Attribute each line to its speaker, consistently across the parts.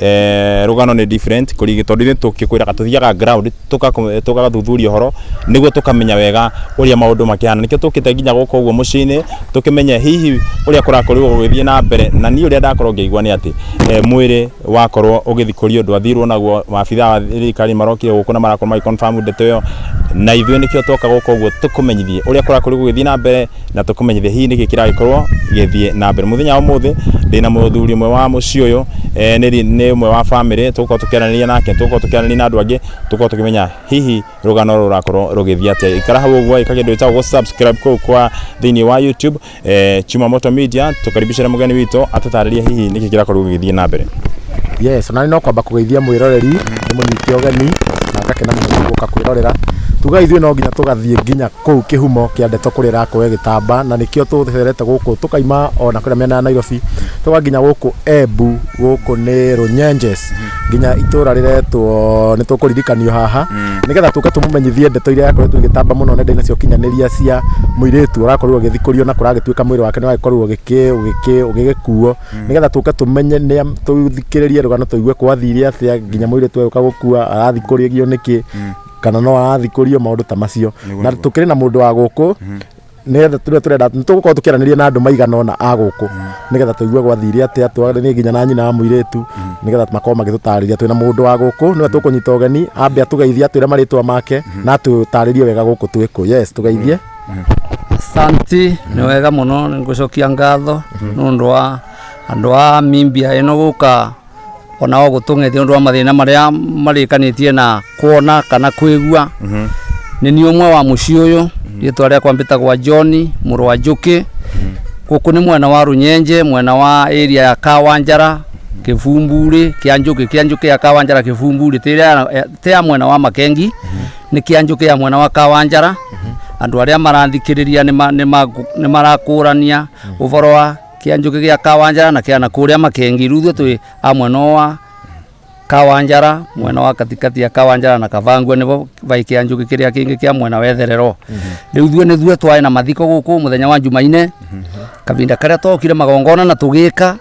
Speaker 1: eh, rũgano nĩ different kũrigi tondũ ithuĩ tũkĩkwĩraga tũthiaga ground tũgaku- tũgathuthuria ũhoro nĩguo tũkamenya wega ũrĩa maũndũ makĩhana nĩkĩo tũkĩte nginya gũkũ ũguo mũciĩ-inĩ tũkĩmenye hihi ũrĩa kũrakorirwo gũgĩthiĩ na mbere na niĩ ũrĩa ndakorwo ngĩigua nĩ atĩ eh, mwĩrĩ wakorwo ũgĩthikũrio ndwathirwo naguo maabitha a thirikari marokire gũkũ na marakorwo magĩ confirm ndeto ĩyo na ithuĩ nĩkĩo twoka gũkũ ũguo tũkũmenyithie ũrĩa kũrakorirwo gũgĩthiĩ na mbere na tũkũmenyithia hihi nĩkĩ kĩragĩkorwo gĩthiĩ na mbere mũthenya wa ũmũthĩ ndĩ na mũthuri ũmwe wa mũciĩ ũyũ e, nĩ ri- nĩ ũmwe wa bamĩrĩ tũgũkorwo tũkĩaranĩria nake tũgũkorwo tũkĩaranĩria na andũ angĩ tũgũkorwo tũkĩmenya hihi rũgano rũrũ rũrakorwo rũgĩthiĩ atĩa ikara hau ũguo ĩka kĩndũ gĩtagwo subscribe kũu kwa thĩinĩ wa youtube e, chumamoto media tũkaribicĩre mũgeni witũ atũtarĩrie hihi nĩkĩ kĩrakorwo gĩgĩthiĩ na mbere yes ona nĩ no
Speaker 2: kwamba kũgeithia mwĩroreri nĩ mũnyite ũgeni na ngakena mũno nĩ gũka kwĩrorera tuga ithuĩ no nginya tũgathiĩ nginya Kũu kĩhumo kĩa ndeto kũrĩa ĩrakũũe gĩtamba na nĩkĩo tũtherete gũkũ tũkaima o na kũrĩa mĩena ya Nairobi tũgoka nginya gũkũ Embu gũkũ nĩ Runyenjes nginya itũũra rĩretwo nĩ tũkũririkanio haha nĩgetha tũke tũmũmenyithie ndeto iria irakoretwo igĩtamba mũno nenda-inĩ cia ũkinyanĩria cia mũirĩtu ũrakorirwo ũgĩthikũrio na kũragĩtuĩka mwĩrĩ wake nĩũragĩkorwo ũgĩgĩkuo nĩgetha tũke tũmenye nĩa tũthikĩrĩrie rũgano tũigue kwathire atĩa nginya mũirĩtu ũyũ agĩũka gũkua arathikũrĩrio nĩkĩ. kana no arathikũrio maũndũ ta macio Nĩguo, na nĩguo. tũkĩrĩ na mũndũ wa gũkũ nĩgetha tũrĩa tũrenda nĩtũgũkorwo tũkĩaranĩria na andũ maigana ona a gũkũ nĩgetha tũigue gwathire atĩa twaranie nginya na nyina wa mũirĩtu nĩgetha makorwo magĩtũtarĩria twĩna mũndũ wa gũkũ nĩwe tũkũnyita ũgeni ambe atũgeithie atwĩre marĩtwa make na atũtarĩrie wega gũkũ twĩ kũ yes tũgeithie Santi
Speaker 3: nä wega må no nä ngå cokia ngatho nä å ndå wa andå a mimbia ä no gå ka ona o gũtũng'etie nĩ ũndũ wa mathĩna marĩa marĩkanĩtie na kuona kana kwĩgua nĩ niĩ ũmwe wa mũciĩ ũyũ rĩtwa rĩakwa mbĩtagwa John mũrũ wa Njũkĩ gũkũ nĩ mwena wa Rũnyenje mwena wa area ya Kawanjara Kĩbumburĩ kĩa Njũkĩ kĩa Njũkĩ ya Kawanjara Kĩbumburĩ tĩ ĩrĩa ya- tĩ ya mwena wa Makengi nĩ kĩa Njũkĩ ya mwena wa Kawanjara andũ arĩa marathikĩrĩria nĩ ma- nĩ ma- nĩ marakũrania ũhoro wa kia njuki gia kawanjara na kia na kuria makengi riu ithue twi a mwena uyu wa kawanjara mwena wa katikati ya kawanjara na kavangua nivo vai kia njuki kiria kingi kia mwena wa itherero riu ithue nithue twai na mathiko guku muthenya wa njumaine kavinda karia twokire magongona na tugika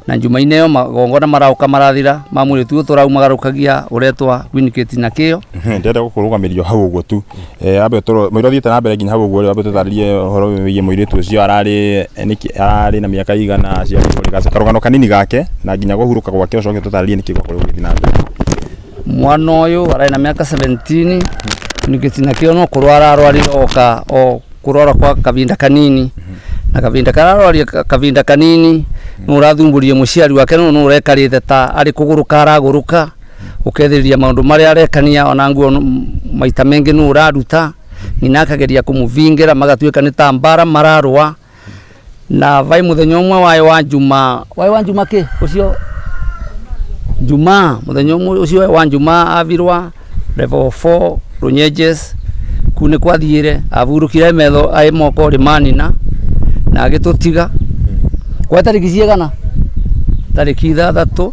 Speaker 3: na njumaine iyo magongona marauka marathira ma mwiritu uyu turaumagarukagia uretwa winikiti na kio ndenda gukurugamirio
Speaker 1: hau uguo tu Eh, ambe toro mwira thiite na mbere nginya hau guo ambe tutaririe horo wiye mwiri tu cio arari niki arari na miaka igana cia kuri gase karugano kanini gake na nginya guhuruka gwake ucoke tutaririe niki gwa kuri guthi na mbere mwana
Speaker 3: uyu arari na miaka 17 nikitina kio no kurwara arwarire oka o kurwara kwa kavinda kanini na kavinda kararwaria kavinda kanini no urathumburie muciari wake no no urekarite ta ari kuguruka araguruka ũkethĩrĩria maũndũ marĩa arekania ona nguo n- maita mengĩ nũ ũraruta nyina akageria kũmũbingĩra magatuĩka nĩ ta mbara mararũa na vai mũthenya ũmwe waĩ wa njuma waĩ wa njuma kĩ ũcio njuma mũthenya ũmwe ũcio waĩ wa njuma avirwa level 4 runyenjes kuu nĩ kwathiĩre avurũkire metho aĩ moko rĩ manina na agĩtũtiga kwa tarĩki ciĩgana tarĩki ithathatũ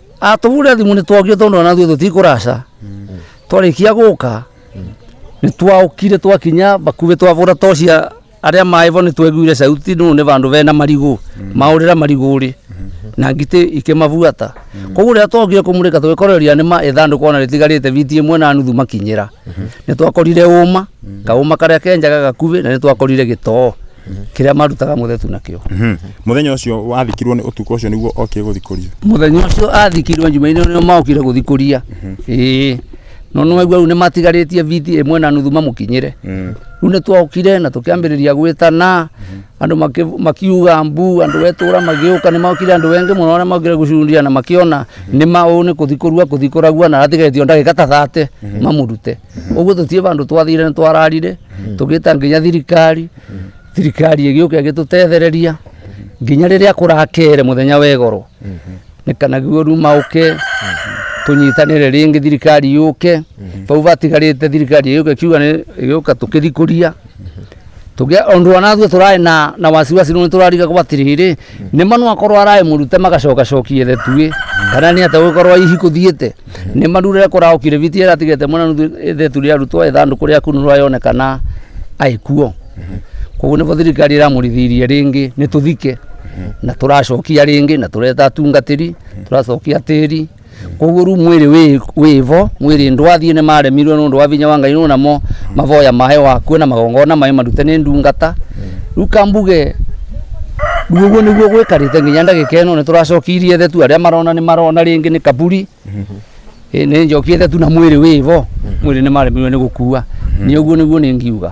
Speaker 3: atũhũrĩra thimũ nĩ twokire tondũ ona ithuĩ tũtikũraca twarĩkia gũka nĩ twaũkire twakinya bakuhĩ twabũra tocia arĩa maĩbo nĩ tweguire sauti nũ nĩ bandũ bena marigũ maũrĩra marigũrĩ na ngitĩ ikĩmabuata koguo rĩrĩa twokire kũmũrĩka tũgĩkoreria nĩ ma ithandũkũ ona rĩtigarĩte biti ĩmwe na nuthu makinyĩra nĩ twakorire ũma kaũma karĩa kenjaga gakuhĩ na nĩ twakorire gĩtoo kĩrĩa marutaga mũthetu nakĩo muthenya ucio
Speaker 1: wathikirwo ni utuko ucio niguo okire guthikurio muthenya ucio
Speaker 3: athikirwo njumaine nio maokire guthikuria ĩĩ no nĩ waigua rĩu nĩ matigarĩtie biti ĩmwe na nuthu mamũkinyĩre rĩu nĩ twokire na tũkĩambĩrĩria gwĩtana andũ makĩ- makiuga mbu andũ wetũra magĩũka nĩ maokire andũ wengĩ mũno arĩa maokire gũcundia na makĩona nĩ maũ nĩ kũthikũrua kũthikũragua na atigarĩtio ndagĩka ta thate mamũrute ũguo tũtirĩ bandũ twathire nĩ twararire tũgĩta nginya thirikari thirikari ĩgĩũka ĩgĩtũtethereria nginya rĩrĩa kũrakere mũthenya wegoro nĩ kana guo ruma ũke tũnyitanĩre rĩngĩ thirikari yũke bau batigarĩte thirikari ĩgĩũka ĩkiuga nĩ- ĩgĩũka tũkĩthikũria tuge ondu wanathu turae na na wasiwasi nuni turariga kwa tiriri ni manu akorwo arae murute magacoka cokie the tuwe kana ni ate gukorwo ihi kuthiete ni marurire kurao kiriviti era tigete mwana nuthu the turi arutwo ethandu kuria kunu rwayonekana aikuo koguo nĩbo thirikari ĩramũrithirie rĩngĩ nĩ tũthike na tũracokia rĩngĩ na tũreta atungatĩri tũracokia tĩri koguo rĩu mwĩrĩ wĩ- wĩvo mwĩrĩ ndwathiĩ nĩ maremirwe nũndũ wa vinya wa ngai nũ namo mavoya mahe wakuo na magongona maĩ marute nĩ ndungata rĩu kambuge rĩu ũguo nĩguo gwĩkarĩte nginya ndagĩka ĩno nĩ tũracokirie thetu arĩa marona nĩ marona rĩngĩ nĩ kaburi Ĩ, nĩ njokie thetu na mwĩrĩ wĩvo mwĩrĩ nĩ maremirwe nĩ gũkua nĩ ũguo nĩguo nĩ ngiuga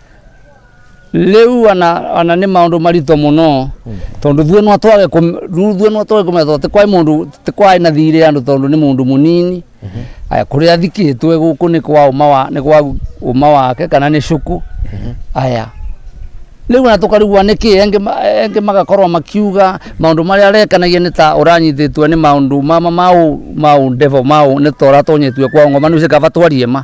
Speaker 2: rĩu
Speaker 3: ana ana nĩ maũndũ maritũ mũno tondũ ithuĩ no twage kũm- rĩu ithuĩ no twage kũmenya tondũ ti kwaĩ mũndũ ti kwaĩ na thirĩ andũ tondũ nĩ mũndũ mũnini aya kũrĩa athikĩtwe gũkũ nĩ kwa ũma wa nĩ kwa ũma wake kana nĩ cuku aya rĩu na tũkarigua nĩkĩ engĩ ma- engĩ magakorwo makiuga maũndũ marĩa arekanagia nĩ ta ũranyitĩtwe nĩ maũndũ mama ma ũ- ma ũndevo ma ũ- nĩ ta ũratonyetue kwa ngoma nĩ ũcikaba twarie ma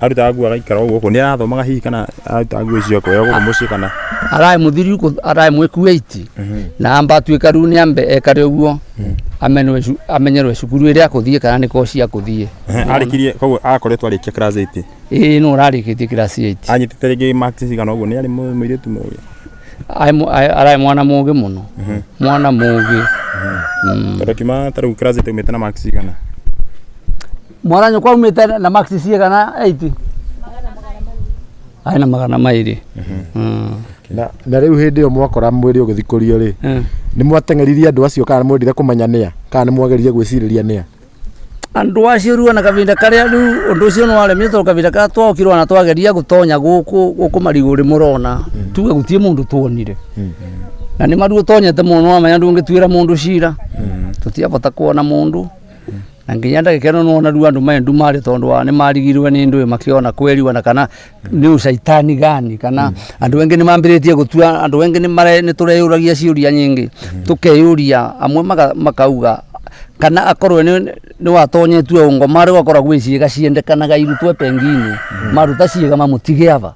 Speaker 3: arutaga nguo agaikara
Speaker 1: ũguo gũkũ nĩ arathomaga hihi kana arutaga nguo icio akoya gũkũ mũciĩ kana araä må thiru
Speaker 3: kå araä mwä kuaiti na amba atuä ka rä u nä ambe ekare å guo amenwe cu- amenyerwe cukuru ä rä a kå thiä kana nä koci akå thiä arĩkirie koguo
Speaker 1: akoretwo arĩkia class 8 ä no rarä kä tie kirasi
Speaker 3: anyitĩte rĩngĩ marks
Speaker 1: cigana ũguo nĩ arĩ mũ- mũirĩtu mũĩ araä
Speaker 3: mwana må gä må no mwana må gä tondũ
Speaker 1: kiuma ta rĩu class 8 umĩte na marks cigana
Speaker 3: mwana nyũkwa aumĩte na max cigana 8 arĩ na magana mairĩ Mm. na,
Speaker 2: na rĩu hĩndĩ ĩyo mwakora mwĩrĩ ũgĩthikũrio rĩ Mm. nĩ mwateng'eririe andũ acio kana mwendire kũmenya nĩa kana nĩ mwageririe gwĩcirĩria nĩa andå
Speaker 3: acio ruona kavinda karä rä å ndå å cio nä waremire tondå kavinda karä twokirwo na twageria gå tonya gå kå gå kå marigå rä må rona tuge gå tiä må ndå tuonire na nä maruo tonyete må no wamenya ndå ngä tuä ra må ndå cira tå tiabota kuona må ndå na nginya ndagĩka ĩno nĩwona rĩu andũ maya ndumarĩ tondũ wa nĩ marigirwe nĩ ndũĩ makĩona kweri ona kana nĩ ũcaitani gani kana andũ engĩ nĩ mambĩrĩtie gũtua andũ engĩ nĩ mare- nĩ tũreyũragia ciũria nyingĩ tũkeyũria amwe maka- makauga kana akorwe nĩ nĩ watonyetue ũngo marĩ wakora gwĩ ciĩga ciendekanaga irutwe penginĩ maruta ciĩga mamũtige ava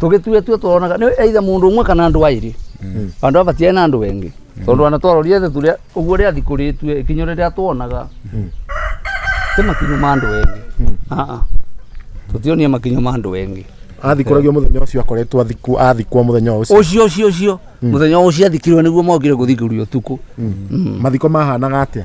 Speaker 3: tũgĩtue tue tũronaga nĩ either mũndũ ũmwe kana andũ aĩrĩ andũ aba tiaĩ na andũ wengĩ tondũ ana twarorire thĩ tũrĩa ũguo rĩa thikũ rĩtue ikinyo rĩrĩa tuonaga ti makinyo ma andũ wengĩ Aa. tũtionie makinyo ma andũ wengĩ athikũragio mũthenya
Speaker 2: ũcio akoretwo athiku- athikwo mũthenya wa ũcio ũcio ũcio ũcio mũthenya ũcio
Speaker 3: athikirwo nĩguo
Speaker 2: mokire
Speaker 3: gũthikĩrio ũtukũ mathiko mahanaga atĩa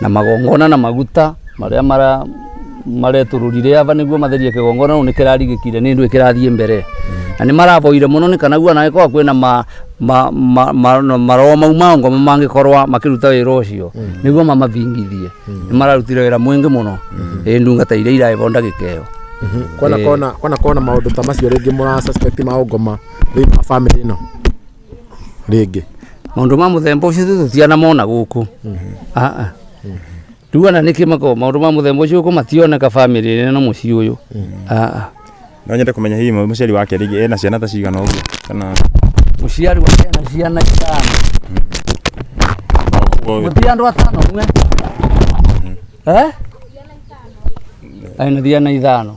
Speaker 3: na magongona na maguta marĩa mara maretũrũrire ava nĩguo matherie kĩgongona rĩu nĩkĩrarigĩkire nĩ ndũĩ kĩrathiĩ mbere na nĩ maraboire mũno nĩ kana guo anagĩkorwo kwĩna ma, ma, ma, ma, ma, maroho mau ma ngoma mangĩkorwa makĩruta wĩra ũcio nĩguo mamavingithie nĩ mararutire wĩra mwĩngĩ mũno ĩ ndungata iria iraĩvo ndagĩka ĩyo kwana kona
Speaker 2: kwana kona maundu ta macio ringi mura suspect ma ungoma thini wa family ino rĩngĩ maundu ma
Speaker 3: muthemba ucio ithuĩ tũtianamona gũkũ aa rĩu ana nĩkĩ makoragwo maundu ma muthemba ucio gũkũ mationeka family ĩno na mũciĩ ũyũ aa
Speaker 1: no nyende kũmenya hihi mũciari wake rĩngĩ ena ciana ta cigana ũguo kana mũciari wa
Speaker 3: ciana ciana itano ũguo mũtiĩ andũ atano mwe eh aina thiana ithano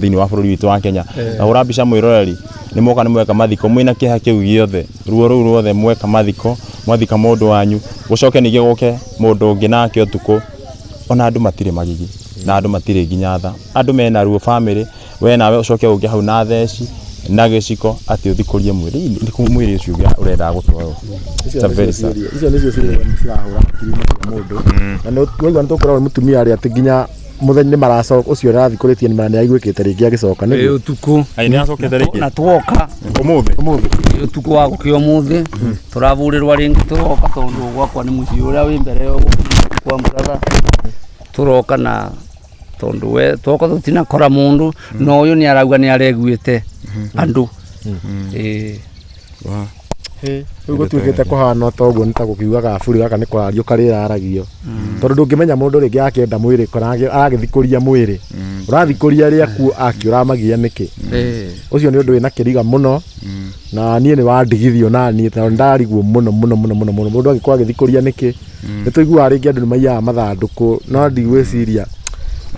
Speaker 1: thĩinĩ wa bũrũri witũ wa Kenya na hũra mbica mwĩroreri nĩ moka nĩ mweka mathiko mwĩna kĩeha kĩu gĩothe ruo rũu ruothe mweka mathiko mwathika mũndũ wanyu gũcoke ningĩ gũke mũndũ ũngĩ nake ũtukũ ona andũ matirĩ magigi na andũ matirĩ nginya tha andũ mena ruo bamĩrĩ we nawe ũcoke ũngĩ hau na theci na gĩciko atĩ ũthikũrie mwĩrĩ Ii, nĩ kũ mwĩrĩ ũcio ũrĩa ũrendaga gũtwarwo It's a very sad.
Speaker 2: icio nĩcio ciũria cirahũra hakiri-inĩ cia mũndũ na nĩ- nĩwaigua nĩ tũkoragwo mũtumia arĩa atĩ nginya mũthenya nĩ maracoka ũcio arathikũrĩtie nĩ aiguĩkĩte rĩngĩ agĩcoka nĩ Ĩ ũtukũ Ai, nĩ acokete
Speaker 3: rĩngĩ na
Speaker 1: twoka
Speaker 3: ũmũthĩ ũmũthĩ
Speaker 1: ĩ ũtukũ wa gũkĩa
Speaker 3: ũmũthĩ tũrabũrĩrwa rĩngĩ tũroka tondũ gwakwa nĩ mũciĩ ũrĩa wĩ mbere yo kwa mũratha tũroka na tondũ we twoka tũtinakora mũndũ na ũyũ nĩ arauga nĩ areguĩte andũ Ĩ.
Speaker 2: rĩu gũtuĩkĩte kũhana ta ũguo nĩ ta gũkiugaga buri gaka nĩ kũrario karĩraragio tondũ ndũngĩmenya mũndũ rĩngĩ akĩenda mwĩrĩ kana agĩ- agagĩthikũria mwĩrĩ ũrathikũria arĩa akuo akĩ ũramagia nĩkĩ ũcio nĩ ũndũ wĩna kĩriga mũno na niĩ nĩ wandigithio na niĩ tondũ ndariguo mũno mũno mũno mũno mũno mũndũ angĩkorwo agĩthikũria nĩkĩ Mm. nĩ tũiguaga rĩngĩ andũ nĩ maiyaga mathandũkũ no ndigwĩciria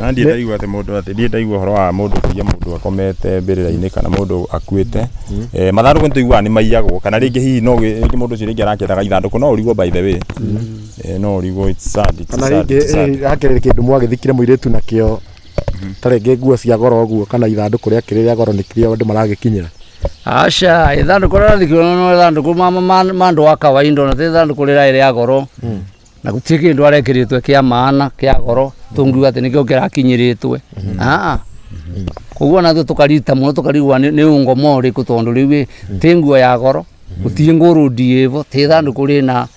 Speaker 2: na ndiĩ
Speaker 1: ndaigua atĩ mũndũ atĩ ndiĩ ndaigua ũhoro wa mũndũ kũiya mũndũ akomete mbĩrĩra-inĩ kana mũndũ akuĩte Eh, mathandũkũ nĩ tũiguaga nĩ maiyagwo kana rĩngĩ hihi no gĩ- rĩngĩ mũndũ ũcio rĩngĩ arakĩendaga ithandũkũ no ũrigwo by the way Eh, no ũrigwo it's sad, it's kana sad, rĩngĩ it's sad. eh,
Speaker 2: hakĩrĩ kĩndũ mwagĩthikire mũirĩtu nakĩo ta rĩngĩ nguo cia goro ũguo kana ithandũkũ rĩa kĩrĩ rĩa goro nĩkĩrĩa andũ maragĩkinyĩra aca
Speaker 3: ithandũkũ rĩrĩa ndĩkĩona no ithandũkũ ma- ma- ma- ma andũ a kawaida ona ti ithandũkũ rĩrĩa rĩa goro na gũtirĩ kĩndũ arekĩrĩtwe kĩa maana kĩa goro tũngiuga atĩ nĩkĩo kĩrakinyĩrĩtwe aa koguo nathuo tũkarita mũno tũkarigwa nĩ nĩ ungo morĩkũ tondũ rĩu ĩ tĩ nguo ya goro gũtirĩ ngũrũ ndiĩvo tĩ ithandũkũ rĩna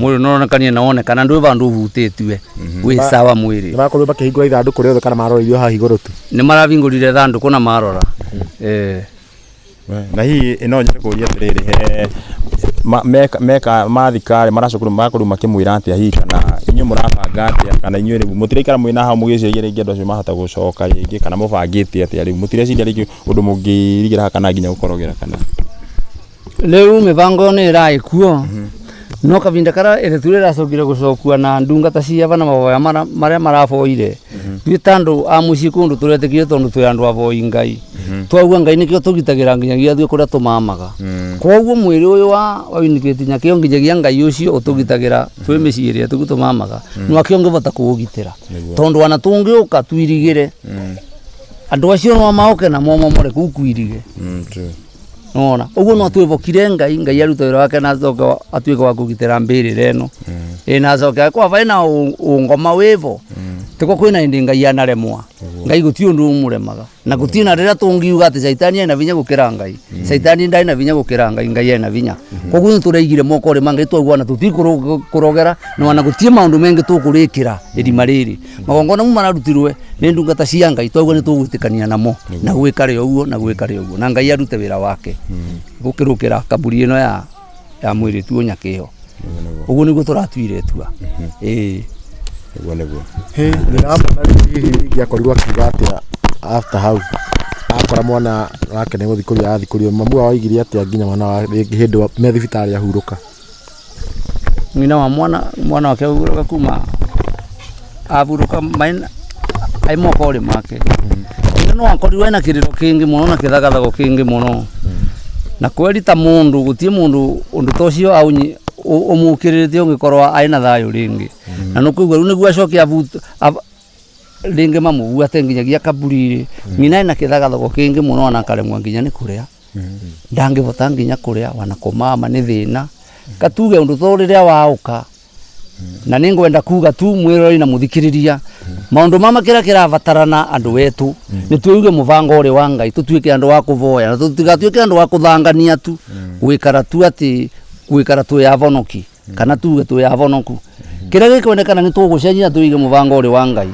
Speaker 3: mwĩrĩ nĩũronekania na wonekana ndwĩ vandũ ũhutĩtue wĩ sawa mwĩrĩ nĩ makorirwo makĩhingũra ithandũkũ
Speaker 2: rĩothe kana marorairio haha igũrũ tu nĩ marabingũrire
Speaker 3: thandũkũ na marora Eh,
Speaker 1: na hihi ĩno nyende kũria atĩrĩrĩ he ma- meka- meka mathikarĩ maracokorwo makorwo makĩmwĩra atĩa hihi kana inyuĩ mũrabanga atĩa kana inyuĩ rĩu mũtiraikara mwĩna hau mũgĩciria rĩngĩ andũ acio mahota gũcoka rĩngĩ kana mũbangĩte atĩa rĩu mũtireciria rĩngĩ ũndũ mũngĩrigĩra haha kana nginya gũkorogera kana
Speaker 3: Rĩu mĩbango ĩyo nĩ ĩrarĩ kuo no kavinda karĩa ĩretu rĩracokire gũcokua na ndungata ciava na mavoya mara- marĩa maravoire ithuĩ ta andũ a mũciĩ kũndũ tũretikire tondũ twĩ andũ avoi ngai twaua ngai nĩkĩo tũgitagĩra nginyagia ithuĩ kũrĩa tũmamaga koguo mwĩrĩ ũyũ wa wa Winifred nyakĩo nginyagia ngai ũcio ũtũgitagĩra twĩ mĩciĩ ĩrĩa tũgu tũmamaga nwakĩo ngĩvota kũũgitĩra tondũ ana tũngĩũka twirigĩre andũ acio no maũke na momomore kũu kwirige Mm, true. nona ũguo no twĩvokire ngai ngai aruta wĩra wake na acoke wa- atuĩke wa kũgitĩra mbĩrĩra ĩno ĩ na acoke kwa vaĩ na ũ- ũngoma wĩvo tĩko kwĩ na ĩndĩ ngai anaremwa ngai gũtirĩ ũndũ ũmũremaga na gũtirĩ na rĩrĩa tũngiuga atĩ caitani ena vinya gũkĩra ngai caitani ndarĩ na vinya gũkĩra ngai ngai ena vinya koguo nĩ tũraigire moko rĩ ma ngai twaguana tũtikũrogera na ona gũtirĩ maũndũ mengĩ tũkũrĩkĩra ĩrima rĩrĩ magongona mu mararutirwe nä ndungata cia ngai twaugua nä tågwä namo na gwä kare å guo na gwä kare å guo na ngai arute wä ra wake gå kä rå kä ra kamburi ä no ya, ya mwä rä tuo nyakä ä yo å guo nä guo tå ratuire tua ä Nĩguo
Speaker 1: nĩguo. ndiramona
Speaker 2: rĩu hihi ingĩakorirwo akiuga atĩa after hau akora mwana wake nĩ gũthikũrio arathikũrio mamu wao aigire atĩa nginya mwana wa rĩngĩ hĩndĩ wa- me thibitarĩ ahurũka
Speaker 3: Ng'ina wa mwana mwana wake aurũka kuma aburũka maina aimoka ũrĩ make ĩndĩ no akorirwo ena kĩrĩro kĩngĩ mũno na kĩthagathago kĩngĩ mũno na kweri ta mũndũ gũtirĩ mũndũ ũndũ ta ũcio aũnyi- ũ- ũmũkĩrĩrĩtie ũngĩkorwo arĩ na thayũ rĩngĩ na nĩkũigua rĩu nĩguo acoke abu- ab- rĩngĩ mamũguate nginyagia kaburi-rĩ nyina ena kĩthagathago kĩngĩ mũno ona akaremwo nginya nĩ kũrĩa ndangĩhota nginya kũrĩa ona kũmama nĩ thĩna ka tuge ũndũ ta ũyũ rĩrĩa waũka na nĩ ngwenda kuga tu mwĩroreri na mũthikĩrĩria maũndũ mama kĩrĩa kĩrabatarana andũ etũ nĩ twĩige mũbango ũrĩ wa Ngai tũtuĩke andũ a kũvoya na tũtigatuĩke andũ a kũthangania tu gũikara tu atĩ gũikara twĩ abonoki. kana tuge twĩ ahonoku kĩrĩa gĩkwendekana nĩ tũgũcenjia na tũige mũbango ũrĩ wa ngai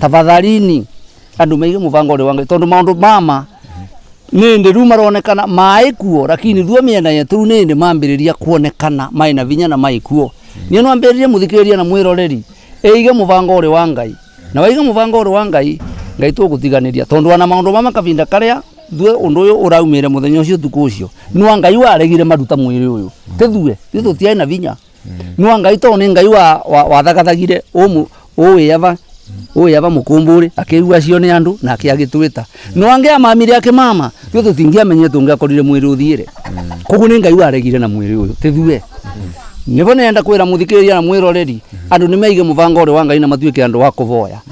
Speaker 3: tafadhalini andũ maige mũbango ũrĩ wa ngai tondũ maũndũ mama nĩ ndĩ rĩu maronekana maĩ kuo lakini ruo mĩena yetũ rĩu nĩ ndĩ mambĩrĩria kuonekana maĩ na vinya na maĩ kuo niĩ no ambĩrĩrie mũthikĩrĩria na mwĩroreri ĩige mũbango ũrĩ wa ngai na waige mũbango ũrĩ wa ngai ngai tũgũtiganĩria tondũ ana maũndũ mama kavinda karĩa thue undu uyu uraumire muthenya ucio tuku ucio nwa ngai waregire maruta mwiri uyu tithue ithu tutiai na vinya nwa ngai to ni ngai wa wa- wathagathagire umu uwiava uwiava mukumburi akigua cio ni andu na akiagitwita nwa ngai amamire akimama ithu tutingiamenye tungiakorire mwiri uthire koguo ni ngai waregire na mwiri uyu tithue nivo nenda kwira muthikiriria na mwiroreri andu nimeige mubango uri wa ngai na matuike andu wa kuvoya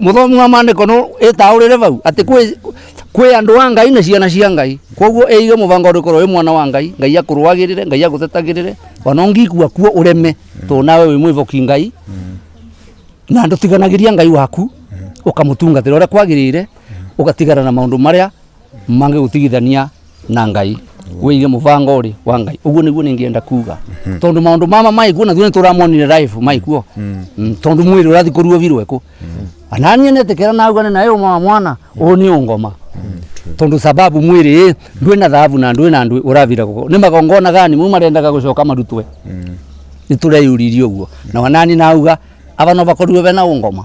Speaker 3: muthomi wa mandiko no itaurire vau ati kwi kwi andu a ngai na ciana cia ngai koguo ige mubango uri korwo wi mwana wa ngai ngai akurwagirire ngai agutetagirire ona ungikua kuo ureme to nawe wi mwivoki ngai na ndutiganagĩria ngai waku ũkamutungatĩra ũrĩa kwagĩrĩire ũgatigana na maũndũ marĩa mangĩgũtigithania na ngai wĩige mũbango ũrĩ wa ngai ũguo nĩguo nĩngĩenda kuga tondũ maũndũ mama maĩkuo nathuo nĩtũramonire live maĩkuo Mm, tondũ mwĩrĩ ũrathi kũruo virwo ĩkũ ananie nĩtĩkĩra naugane naye ũma wa mwana ũũ nĩ ũngoma tondũ sababu mwĩrĩ ĩ ndwĩ na thahabu na ndwĩ na ndwĩ ũravira gũko nĩ magongona gani mau marendaga gũcoka marutwe nĩtũreyũririe ũguo na wanani nauga ava no vakorirwo vena ũngoma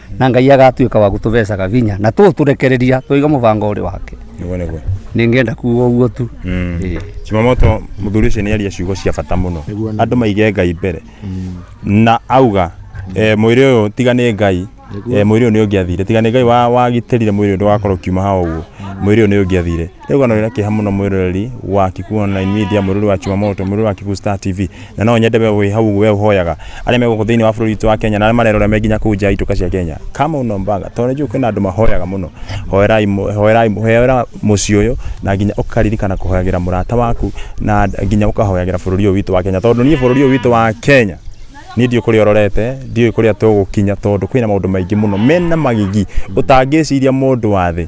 Speaker 3: na ngai agatuĩka wa gũtũbecaga vinya na tũtũrekereria tũiga mũbango ũrĩ wake niguo niguo nĩngenda kuga ũguo tu Ĩĩ. chimamoto
Speaker 1: mũthuri ũcio nĩ aria ciugo cia bata mũno Nĩguo, nĩguo. andũ maige ngai mbere na auga eh, mwĩrĩ ũyũ tiga nĩ ngai eh, mwĩrĩ ũyũ nĩ ũngĩathire tiga nĩ ngai wa- wagitĩrire mwĩrĩ ũyũ ndũgakorwo kiuma ha ũguo mwĩrĩ ũyũ nĩ ũngĩathire Rĩu kana wĩna kĩeha mũno mwĩroreri wa Kikuyu Online Media, mwĩroreri wa Chumamoto, mwĩroreri wa Kikuyu Star TV, na no nyende we wĩ hau ũguo we ũhoyaga arĩa me gũkũ thĩinĩ wa bũrũri witũ wa Kenya na arĩa marerora me nginya kũu nja ya itũka cia Kenya, kama unaombanga tondũ nĩ njũĩ kwĩna andũ mahoyaga mũno, hoerai mũ- hoerai hoera mũciĩ ũyũ na nginya ũkaririkana kũhoyagĩra mũrata waku na nginya ũkahoyagĩra bũrũri ũyũ witũ wa Kenya tondũ niĩ bũrũri ũyũ witũ wa Kenya niĩ ndiũĩ kũrĩa ũrorete ndiũĩ kũrĩa tũgũkinya tondũ kwĩna maũndũ maingĩ mũno mena magigi ũtangĩciria mũndũ wa thĩ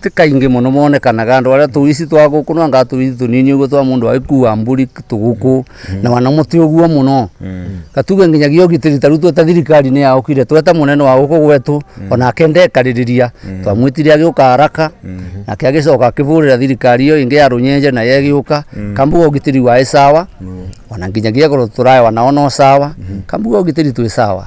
Speaker 3: Ti kaingĩ mũno monekanaga andũ arĩa tũici twa gũkũ no anga tũici tũnini ũguo twa mũndũ agĩkua mbũri tũgũkũ na wanamo ti ũguo mũno na tuge nginyagia ũgitĩri ta rĩu tweta thirikari nĩ yokire tweta mũnene wa gũkũ gwetũ onake ndekarĩrĩria twamwĩtire agĩũka haraka nake agĩcoka akĩhũrĩra thirikari ĩyo ĩngĩ ya rũnyenje nayo ĩgĩũka kambuga ũgitĩri waĩ sawa ona nginyagia agũrũ tũrarĩ nao no sawa kambuga ũgitĩri twĩ sawa.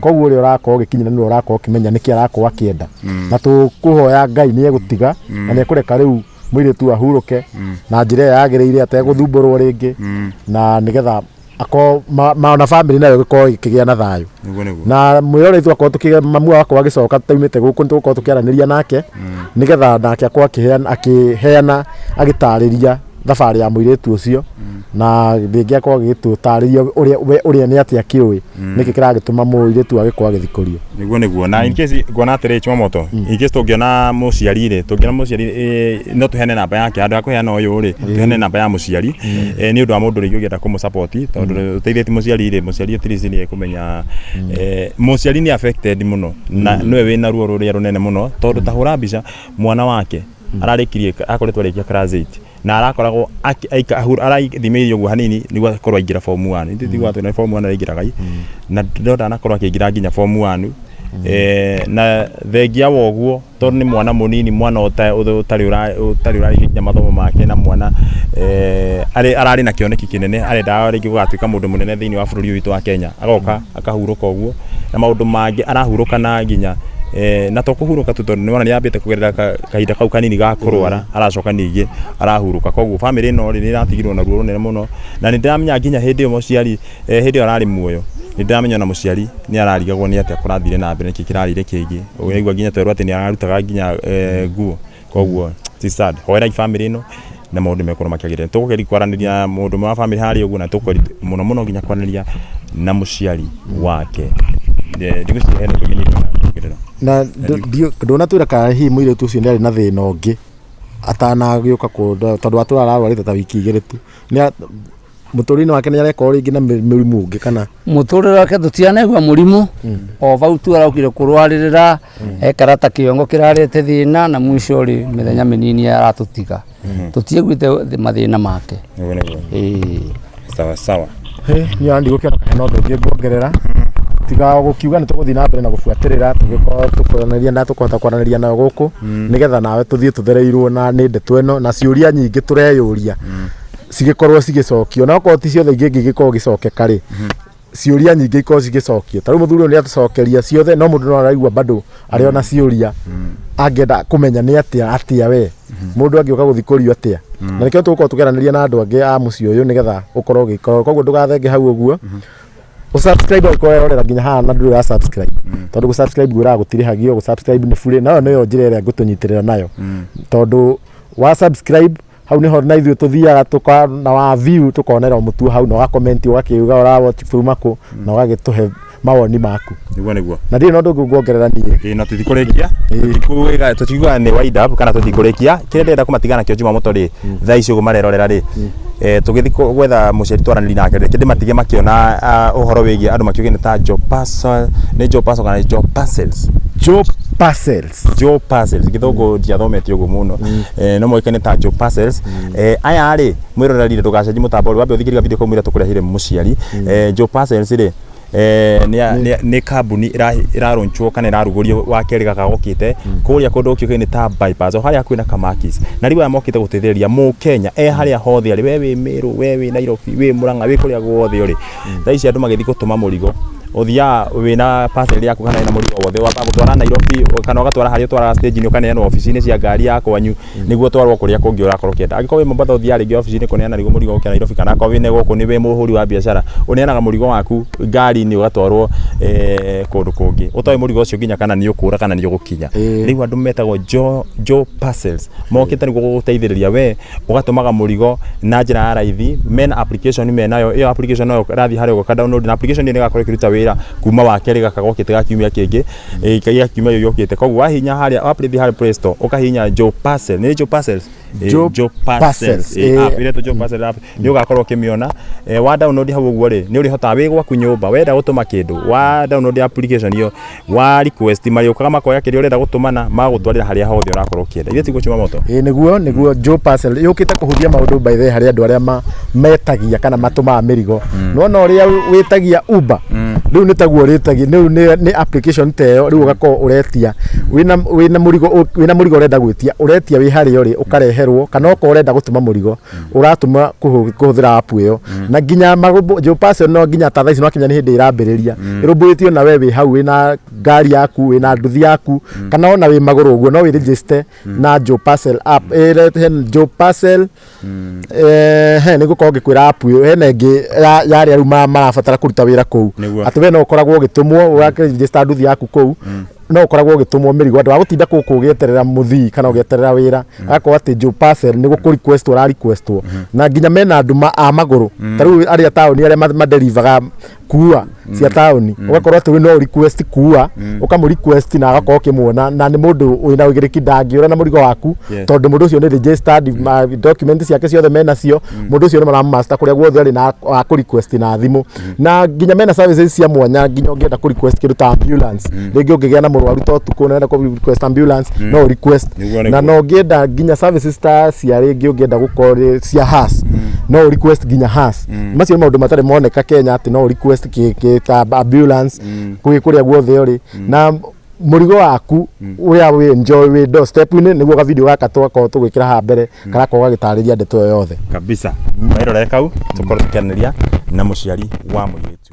Speaker 2: koguo ũrĩa ũrakorwo ũgĩkinyĩra nĩwe ũrakorwo ũkĩmenya nĩkĩ arakorwo akĩenda na tũkũhoya ngai nĩ egũtiga na nĩ ekũreka rĩu mũirĩtu ahurũke na njĩra ĩyo yagĩrĩire ategũthumbũrwo rĩngĩ na nĩgetha akorwo ma- ma- na bamĩrĩ nayo ĩgĩkorwo ĩkĩgĩa na thayũ Nĩguo, nĩguo. na mwĩrorei twakorwo tũkĩ mamu wakorwo agĩcoka taumĩte gũkũ nĩtũgũkorwo tũkĩaranĩria nake nĩgetha nake akorwo akĩheana- akĩheana agĩtarĩria thabarĩ ya mũirĩtu ũcio na rĩngĩ akorwo agĩtũtarĩria ũrĩa we ũrĩa nĩ atĩa kĩũĩ nĩkĩ kĩragĩtũma mũirĩtu agĩkorwo agĩthikũrio niguo niguo na in case
Speaker 1: nguona atĩrĩ chumamoto in case tũngĩona mũciari rĩ tũngĩona mũciari eh, no tũheane namba yake handũ ha kũheana ũyũ rĩ tũheane namba ya mũciari Eh, nĩ ũndũ wa mũndũ rĩngĩ ũngĩenda kũmũsapoti tondũ ũteithĩtie mũciari rĩ mũciari at least nĩ ekũmenya eh, mũciari nĩ affected mũno na nĩwe wĩna ruo rũrĩa rũnene mũno tondũ ta hũra mbica mwana wake ararĩkirie akoretwo arĩkia class 8 na arakoragwo aki- aika- ahu- arathimĩire ũguo hanini nĩguo akorwo aingĩra form 1 ithuĩ tiguo atwĩra form 1 araingĩraga i na ndona anakorwo akĩingĩra nginya form 1 Eh, na thengia wa ũguo tondũ nĩ mwana mũnini mwana ũta- ũta- ũtarĩ ũra- ũtarĩ ũrarĩkia nginya mathomo make na mwana eh, arĩ- ararĩ na kĩoneki kĩnene arendaga rĩngĩ gũgatuĩka mũndũ mũnene thĩinĩ wa bũrũri ũyũ witũ wa kenya agoka akahurũka ũguo na maũndũ mangĩ arahurũka na nginya eh, na to kũhurũka tu tondũ nĩwona nĩambĩte kũgerera ka- kahinda kau kanini ga kũrwara aracoka ningĩ arahurũka koguo bamĩrĩ ĩno rĩ nĩratigirwo na ruo rũnene mũno na nĩndĩramenya nginya hĩndĩ ĩyo mũciari eh, hĩndĩ ĩyo ararĩ muoyo nĩndĩramenya ona mũciari nĩararigagwo nĩ atĩa kũrathire na mbere nĩkĩ kĩrarĩire kĩngĩ ũguo nĩaigua nginya twerwo atĩ nĩararutaga nginya eh, nguo koguo ti sad hoerai family ino na maundu mekorwo makiagirira tugukeri kwaraniria na mundu wa family hari uguo na tukukeri muno muno nginya kwaraniria na muciari wake Eh, ndigwiciria hena ndugi nyingĩ kwaraniria na
Speaker 2: ndonatwira kana hihi muiritu ucio ni ari na thina ungi atanagioka ku tondu atura ararwarite ta wiki igiri tu Nĩa- mũtũrĩre-inĩ wake nĩ areka rĩngĩ na mĩ- mĩrimũ ũngĩ kana mũtũrĩre wake
Speaker 3: tũtianaigua mũrimũ o bau tu araukire kũrwarĩrĩra ekara ta kĩongo kĩrarĩte thĩna na mwico rĩ mĩthenya mĩnini aratũtiga tũtiaiguĩte thĩ- mathĩna make Ũguo nĩguo. Ĩĩ. sawa
Speaker 1: sawa niĩ ona ndigũkĩona
Speaker 2: kana hena ũndũ ũngĩ nguongerera tiga o gũkiuga nĩ tũgũthiĩ na mbere na gũbuatĩrĩra tũgĩkorwo tũkwanĩria na tũkũhota kwaranĩria nayo gũkũ nĩgetha nawe tũthiĩ tũthereirwo na nĩ ndeto ĩno na ciũria nyingĩ tũreyũria cigĩkorwo cigĩcokio onakorwo ti ciothe ingĩ ingĩgĩkorwo igĩcokeka rĩ ciũria nyingĩ ikorwo cigĩcokio ta rĩu mũthuri ũyũ nĩ atũcokeria ciothe no mũndũ no araigua bado arĩ ona ciũria angĩenda kũmenya nĩ atĩa atĩa we mũndũ angĩũka gũthi kũrio atĩa na nĩkĩo tũgũkorwo tũkĩaranĩria na andũ angĩ a mũciĩ ũyũ nĩgetha ũkorwo ũgĩka koguo ndũgathenge hau ũguo ũsubscribe angĩkorwo werorera nginya haha na ndũrĩ wa subscribe tondũ gũ subscribe gwĩraga gũtirĩhagio gũ subscribe nĩ burĩ nayo nĩyo njĩra ĩrĩa ngũtũnyitĩrĩra nayo tondũ wa subscribe hau niho na ithuĩ tũthiaga tuka na wa view tukonera mutu hau na ugakomenti ugakiuga ura watch kuma ku na ugagituhe mawoni maku niguo niguo na ndirĩ na ũndũ
Speaker 1: ũngĩ nguongerera
Speaker 2: niĩ ĩĩ na tũtikũrĩkia
Speaker 1: tũtikũiga- tũtikuga nĩ wind up kana tũtikũrĩkia kĩrĩa ndĩrenda kũmatiga nakĩo njuma mũto rĩ thaa ici ũguo marerorera rĩ eh, tũgĩthiĩ kũ- gwetha mũciari twaranĩri nake rĩ kĩndĩ matige makĩona ah, ũhoro wĩgiĩ andũ makiuge nĩ ta jopaso nĩ jopaso kana jopases Joe Parcels Joe Parcels githungu ndiathomete uguo muno eh, no moikane ta Joe Parcels eh, aya ri mwirorerire ndugacenji mutambo ri wambe uthikiriria video kau mwira tukurehire muciari eh, Joe Parcels ri eh, nĩ- nĩ- nĩ kambuni ĩra- ĩrarunchwo kana ĩrarugũrio wa kerĩ gaka gokite kũrĩa kũndũ gũkiũkaine ta bypass o harĩa hakuhĩ na kamakis na rĩu aya mokite gũteithĩrĩria mũkenya e harĩa hothe arĩ we wĩ mĩrũ we wĩ nairobi wĩ mũrang'a wĩ kũrĩa guothe ũrĩ thaa ici andũ magĩthiĩ gũtũma mũrigo ũthiaga wĩna parcel yaku kana wĩna mũrigo wothe ũgamba gũtwara Nairobi kana ũgatwara harĩa ũtwaraga stage-inĩ ũkaneanwo obici-inĩ cia ngari ya kwanyu nĩguo ũtwarwo kũrĩa kũngĩ ũrakorwo ũkĩenda angĩkorwo wĩ Mombatha ũthiaga rĩngĩ obici-inĩ kũneana rĩngĩ mũrigo gũkĩra Nairobi kana akorwo wĩ gũkũ nĩ wĩ mũhũri wa biacara ũneanaga mũrigo waku ngari-inĩ ũgatwarwo eh, kũndũ kũngĩ ũtoĩ mũrigo ũcio nginya kana nĩ ũkũra kana nĩ ũgũkinya rĩu andũ metagwo Joe Joe parcels mokĩte nĩguo gũgũteithĩrĩria we ũgatũmaga mũrigo na njĩra ya raithi mena application menayo ĩyo application nayo ĩrathiĩ harĩa ũka download na application ĩyo nĩ ĩgakorwo ĩkĩruta wĩra kuma wa kerĩ gaka gokĩte ga kiumia kĩngĩ eh, gĩa kiumia gĩkĩ gĩũkĩte koguo wahihinya harĩa wathĩ harĩa play store ũkahihinya Joe Parcel nĩ Joe Parcels Eh, Joe Joe Parcels, Parcels eh, eh. app iretwo Joe Parcel app nĩ ũgakorwo ũkĩmĩona Eh, wa download hau ũguo rĩ nĩ ũrĩhotaga wĩ gwaku nyũmba wenda gũtũma kĩndũ wa download application ĩyo Wa request marĩũkaga makoya kĩrĩa ũrenda gũtũmana magagũtwarĩra harĩa hothe ũrakorwo ũkĩenda ithe tiguo cuma moto ĩĩ nĩguo nĩguo Joe
Speaker 2: Parcel yũkĩte kũhũthia maũndũ by the way harĩ andũ arĩa ma- metagia kana matũmaga mĩrigo nona ũrĩa wĩ- wĩtagia Uber rĩu nĩ taguo ũrĩtagia rĩu nĩ nĩ application ta ĩyo rĩu ũgakorwo ũretia wĩna wĩna mũrigo ũ- wĩna mũrigo ũrenda gwĩtia ũretia wĩ harĩa ũrĩ ũkareherwo kana okorwo ũrenda gũtũma mũrigo uratuma kuhuthira app iyo mm. na nginya marumbu jo pass no nginya ta thaisi no kinya ni hindi irambiriria mm. irumburitio na wewe hau we na ngari yaku we na nduthi yaku mm. kana ona we maguru uguo no we register na jo pass app he jo pass eh he ni gukorwo ngikwira app iyo he na ngi ya ria riu marabatara kuruta wira kuu ati we no ukoragwo ugitumwo ugakiregister nduthi yaku kuu no ukoragwo ugitũmwo mĩrigo andũ agũtinda kũkũ ũgĩeterera mũthii kana ũgĩeterera wĩra mm. agakorwo atĩ Joe Parcel nĩ gũkũ request ũra requestwo mm-hmm. na nginya mena andũ a magũrũ mm. ta rĩu arĩa taũni arĩa maderivaga kuua mm. cia taũni mm. ũgakorwo atĩ ũyũ no request kuua mm. ũkamũ request na agakorwo ũkĩmuona na nĩ mũndũ wĩna ũigĩrĩki ndangĩũra na mũrigo waku tondũ mũndũ ũcio nĩ registered document ciake ciothe menacio mũndũ ũcio nĩ maramũmaster kũrĩa guothe arĩ na akũ request na thimũ na nginya mena services cia mwanya nginya ũngĩenda kũ request kĩndũ ta ambulance rĩngĩ ũngĩgĩa na mũrwaru ta ũtukũ na ũrenda kũ request ambulance no ũ request Nĩguo, na nĩguo. no ũngĩenda nginya services ta cia rĩngĩ ũngĩenda gũkorwo rĩ- cia has no ũ request nginya has macio nĩ maũndũ matarĩ moneka Kenya atĩ no ũ request kĩ- kĩ- ta ambulance kũrĩ kũrĩa guothe ũrĩ na mũrigo waku ũrĩa wĩ enjoy wĩ do step inĩ nĩguo ga video gaka twakorwo tũgwĩkĩra haha mbere karakorwo gagĩtarĩria ndeto ĩyo yothe
Speaker 1: kabisa kairore kau tũkorwo
Speaker 2: tũkĩanĩria
Speaker 1: na mũciari
Speaker 2: wa
Speaker 1: mũirĩtu